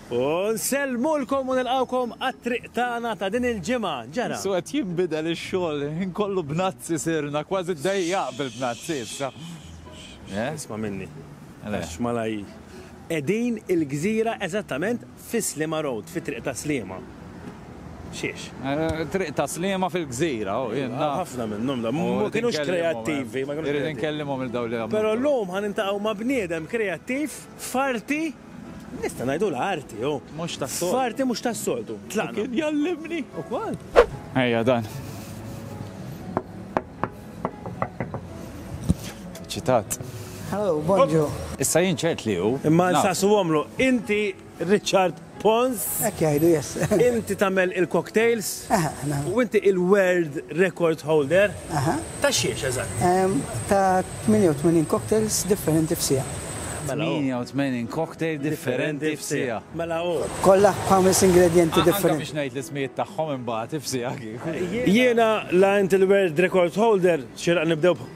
U nsellmulkom u nilqgħukom għat-triq tagħna ta' din il-ġimgħa. Ġara? Su qed jinbidel ix-xogħol, il-ħin kollu bnazzi sirna, kważi ddejjaq bil-bnazzi issa. Eh? Isma' minni. Għax malaj. Qegħdin il-gżira eżattament fi Sliema Road, fi Triq ta' Sliema. Xiex? Eh, triq ta' Sliema fil-gżira, oh, jien naf. Ħafna minnhom da, Oh, ma kienux kreattivi, ma kienux Irrid kreattivi. nkellimhom il-daw li għamlu. Però llum ħan intaqgħu ma' bniedem kreattiv F'arti, nista' ngħidulha arti, hu. Mhux tas-soltu. F'arti mhux tas-soltu. Tlaqna. Kien jgħallimni ukoll. Ejja dan. Ċitat. Hello, bonġu. Issa jien ċert li hu. Imma nsaqsuhomlu, inti Richard Pons. Hekk jgħidu, yes. Inti tagħmel il-cocktails. Aha, aha. U inti il-world record holder. Aha. Ta' xiex eżatt? Em, Ta' 88 cocktails differenti f'sija. Mela, oh. 88 cocktail differenti f'sija. Mela u. Kollha ħames ingredienti Anka differenti. biex ngħid l-ismijiet tagħhom imbagħad ifsija kieku. Jiena la inti l-world record holder, xiraq nibdew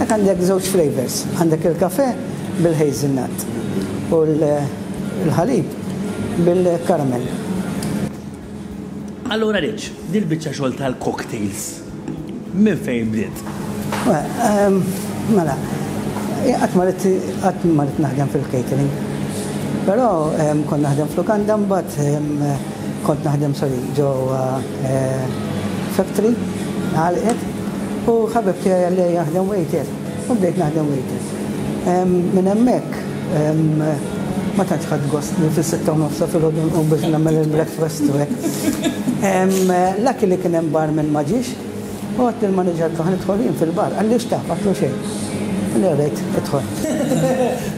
Hekk għandek żewġ flavors, għandek il-kafe bil-hazelnut u l-ħalib bil-karamell. Allura Rich, din il-biċċa xogħol tal-cocktails minn fejn bdiet? Mela, qatt ma rid qatt ma rid naħdem fil-catering. Però kont naħdem f'lukanda mbagħad Kont naħdem sorry ġewwa factory għalqet u ħabib tiegħi qal li jaħdem waiter u bdejt naħdem waiter. Minn hemmhekk ma tantx ħadt gost li fis-sitta u nofs ta' filgħodu nqum biex nagħmel il-breakfast u hekk. Lucky li kien hemm barman ma ġiex u għedt lill-manager tagħha nidħol jien fil-bar. Qalli x'taf, ma għedtlu xejn. Qalli alright, idħol.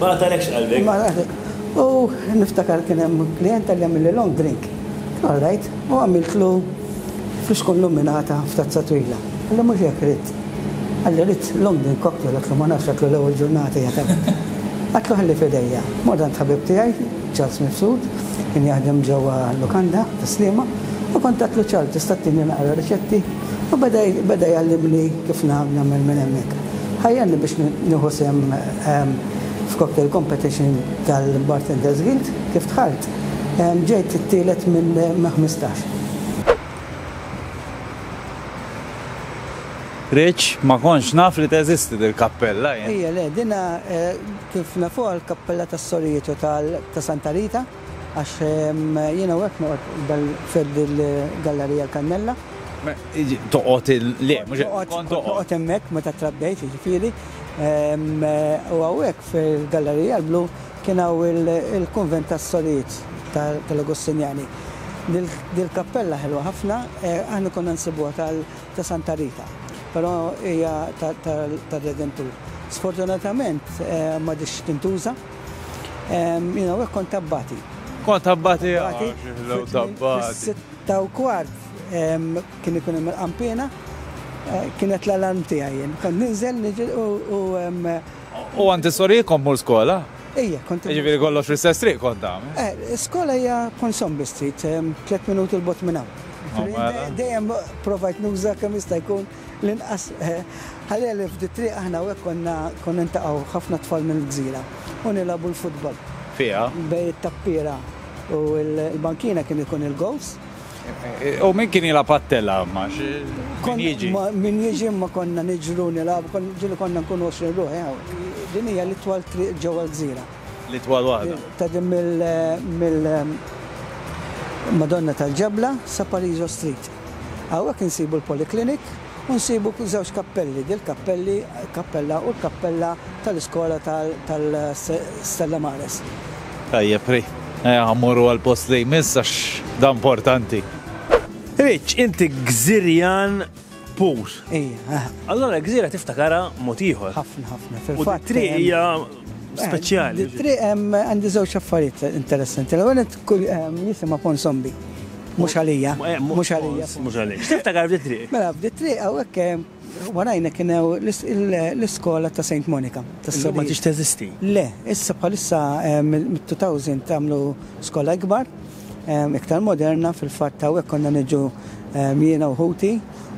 Ma qatagħlekx qalbek. Ma qatagħlekx. U niftakar kien hemm klijenta li għamilli long drink. All right, u għamiltlu fixkun luminata f'tazza twila. Qalli mhux hekk ridt. Qalli ridt long drink cocktail, għidtlu ma nafx għidtlu l-ewwel ġurnata hija ta' hekk. Għidtlu ħalli f'idejja. Mort għand ħabib tiegħi, Charles Mifsud, kien jaħdem ġewwa l-lukanda tas-Sliema, u kont għidtlu Charles tista' ttini naqra riċetti? U beda beda jgħallimni kif nagħmel minn hemmhekk. Ħajjarni biex nieħu sehem F'Cocktail Competition tal-Bartenders Guild, kif dħalt, ġejt it-tielet minn ħmistax. Rich, Ma kontx naf li teżisti dil-kappella jien. Ejja le, dinha kif nafuha l-kappella tas-sorijiet u ta' Santa Rita. Għax jien hawnhekk noqgħod f'hedd il-Gallarija l-Kannella. Toqgħod il. Le, mhux hekk. Kont toqgħod. Noqgħod hemmhekk meta trabbejt, jiġifieri. U hawnhekk fil-Gallarija l-Blu kien hawn il-kunvent tas-sorijiet tal-Agustinjani. Dil-kappella ħelwa ħafna, aħna konna nsibuha ta' Santa Rita, però hija tar-Redentur. Sfortunatament m'għadhiex tintuża. Jina għek kont tabbati. Kont tabbati għaxi, ah, tabbati. Sitta u kwart kien ikun hemm il-qampina, eh, kienet l-alarm tiegħi jien. Kont ninżel niġil u. U għandi sorri kont mur skola? Ejja, kont. Ġifieri kollox fl-istess triq kont ta' eh, Skola hija Ponsombi Street, tliet minuti l-bot minn hawn. Oh, mela. Dejjem provajt nuża kemm jista' jkun L-inqas ħalli għalih f'di t-triq aħna hawnhekk konna konna ntaqgħu ħafna tfal mill-gżira u nilagħbu l-futbol. Fiha? Bejn it-tappiera u l-bankina kien ikun il-gowls. U min kien jilgħab għat-telgħa imma? Min jiġi? Min jiġi imma konna niġru nilagħbu, ġieli konna nkunu għoxrin ruħ hawn. Din hija l-itwal triq ġewwa l-gżira. li twal waħda. Tgħaddi mill Madonna tal-Ġebla sa Parizo Street. Hawnhekk insibu l-Polyclinic u nsibu żewġ kappelli, dil-kappelli kappella u l-kappella tal-iskola tal-Stella Maris. Tajjeb ri. Ejja mmorru għall-post li jmiss għax dan importanti. Rich, inti gżirjan Pur. Ejja. Allora gżira tiftakara mod ieħor. Ħafna ħafna. Fil-fatt. Triq hija speċjali. Triq hemm għandi żewġ affarijiet interessanti. L-ewwel ehm, jisimha Pon Zombi. Mhux għalija. Eh, mhux għalija. Mhux għalija. X'tiftakar bdiet triq? Mela bdiet triq hawnhekk ehm, warajna kien l-iskola ta' St. Monica. Issa ma tix teżisti? Le, issa bħalissa ehm, mit-2000 tagħmlu skola ikbar. iktar moderna fil-fatt hawnhekk konna niġu jiena u ħuti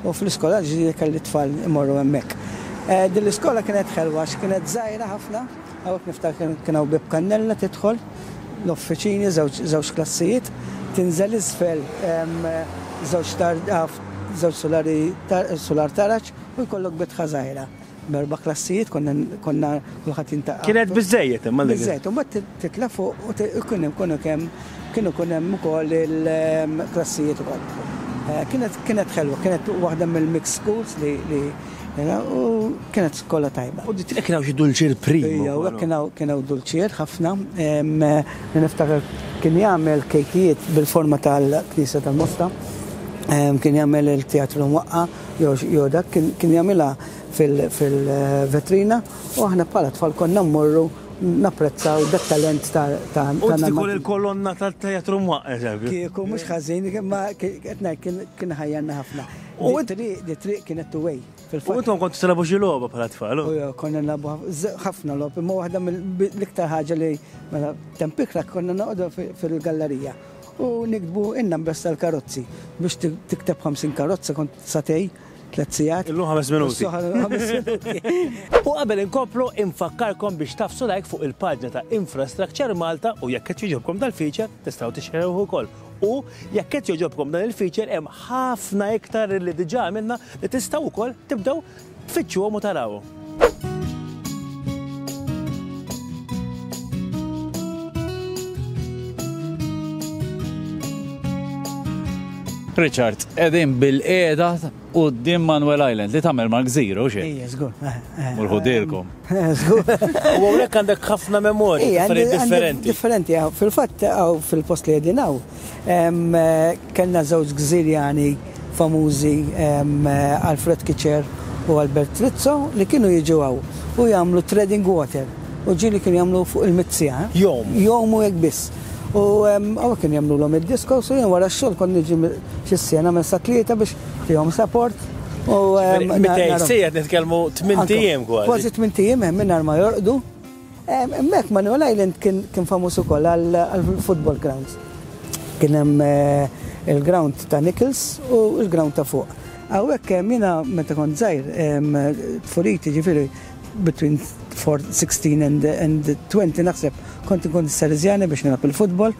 u fl-iskola l-ġdida kelli tfal imorru hemmhekk. Eh, din l-iskola kienet ħelwa għax kienet żgħira ħafna, hawnhekk niftakar kien hawn bib kannella tidħol l-offiċini żewġ klassijiet, tinżel isfel żewġ żewġ sulari sular taraġ u jkollok bitħa żgħira. B'erba' klassijiet konna konna kulħadd jintaqa'. Kienet biżżejjed imma dik. Biżżejjed, u mbagħad titla' fuq u kien hemm kienu kemm kienu jkun hemm ukoll il-klassijiet ukoll. Kienet kienet ħelwa, kienet waħda mill-mixed schools li li u kienet skola tajba. U kien hawn xi dulċier prim. Ejja, u hekk kien hawn kien hawn dulċier ħafna. Niftakar kien jagħmel kejkijiet bil-forma tal-Knisja tal-Mosta, kien jagħmel il-Teatru Mwaqqagħa. jew dak kien jagħmilha fil-vetrina u aħna bħala tfal konna mmorru napprezzaw dak talent ta' Nammant. U tiftikur il-kolonna tat-teatru mwaqqef hekk? Kieku mhux ħażin, imma qed ngħid kien iħajjarna ħafna. U t-triq kienet two way. U intom kontu tilgħabu xi logħba bħala tfal? Konna nilgħabu ħafna logħob, imma waħda mill-iktar ħaġa li mela temp ikra konna noqogħdu fil-gallerija. u niktbu in-numbers tal-karozzi. Biex tikteb 50 karozza kont sagħtej, tliet sigħat. Illum ħames minuti. U qabel inkomplu, infakkarkom biex tagħfsu like fuq il-paġna ta' Infrastructure Malta u jekk qed jogħġobkom dal-feature, tistgħu tixxerewh ukoll. U jekk qed jogħġobkom dan il-feature hemm ħafna iktar li diġà għamilna li tistgħu wkoll tibdew Tfittxuhom u tarawhom. Richard, qegħdin bil-qiegħda quddiem Manuel Island li tagħmel mal-gżira u xi. Ejja, żgur. Eh, eh, Mulħudilkom. Eh, żgur. U hawnhekk għandek ħafna memorji differenti. Differenti, fil-fatt hawn fil-post li qegħdin hawn Kellna żewġ Gżirjani famużi Alfred Kitcher u Albert Trizzo li kienu jiġu hawn u jagħmlu treading water u ġieli kienu jagħmlu fuq il-mizzija. Jgħumu. Jgħumu hekk biss. U hawnhekk kienu jagħmlulhom id-discos u jien wara x-xogħol kont niġi xi siegħa nagħmel sa tlieta biex fihom support u. Ġifieri 200 siegħa qed nitkellmu tmint ijiem kważi. Kważi tmint ijiem hemm mingħajr ma jorqdu. Hemmhekk Manuel Island kien famuż ukoll għall-football grounds. Kien hemm il-ground ta' Nichols u l-ground ta' fuq. Hawnhekk jiena meta kont żgħir tfuliti jiġifieri between 16 and 20 naħseb kont inkun is-Salesiani biex nilgħab il-football.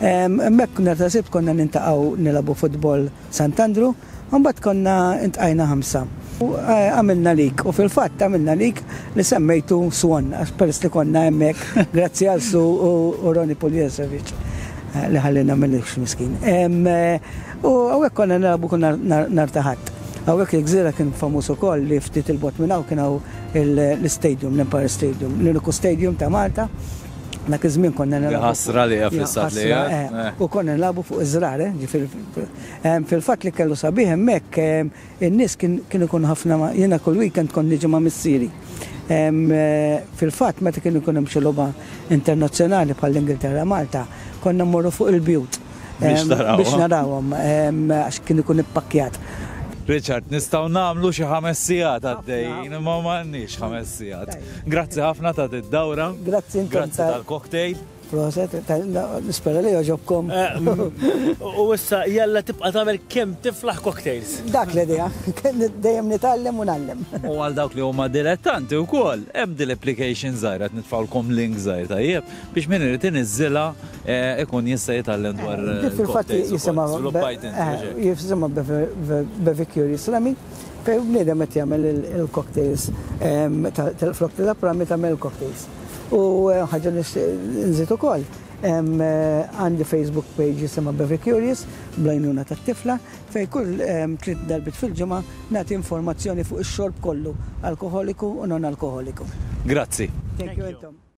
Hemmhekk nhar ta' Sibt konna niltaqgħu nilgħabu football Sant'Andrew. u mbagħad konna ntqajna ħamsa u għamilna lik, u fil-fatt għamilna lik li semmejtu Swan għax peress li konna hemmhekk grazzi għal Su u Ronnie Puljasevic li ħalliena mill-irħ miskin. U hawnhekk konna nilagħbu kull nhar ta' Ħadd. Hawnhekk il-gżira kien famuż ukoll li ftit il-bogħod minn hawn kien hawn l-istadium, l-Empire Stadium, l-uniku stadium ta' Malta, dak iż-żmien konna nilagħbu. Ħasra li hija fl-istat li hija. U konna nilagħbu fuq iż-żrar, ġifieri. Fil-fatt li kellu sabiħ hemmhekk, in-nies kien ikun ħafna ma' jiena kull weekend kont niġi ma' missieri. Fil-fatt meta kien ikun hemm xi logħba internazzjonali bħall-Ingilterra Malta, konna mmorru fuq il-bjut biex narawhom għax kien ikun ippakkjat. Richard, nistgħu nagħmlu xi ħames sigħat għaddejjin imma m'għandniex ħames sigħat. Grazzi ħafna ta' did-dawra. Grazzi intom tal-cocktail. Proset, nispera li joġobkom. U issa jalla tibqa' tagħmel kemm tiflaħ cocktails. Dak l-idea, dejjem nitgħallem u nallem. U għal dawk li huma dilettanti wkoll, hemm din l-application żgħira qed nitfgħulkom link żgħir tajjeb biex min irid iniżżilha ikun jista' jitgħallem dwar. Fil-fatt jisimha jisimha Bevicurious Slammy fejn bniedem qed jagħmel il-cocktails tal-frott tal-apprami tagħmel il-cocktails. U ħaġa nixtieq nżid ukoll, għandi Facebook page jisimha Bevi Curious bl-għajnuna tat-tifla fejn kull tliet darbiet fil-ġimgħa nagħti informazzjoni fuq ix-xorb kollu, alkoħoliku u non-alkoħoliku. Grazzi. Thank you intom.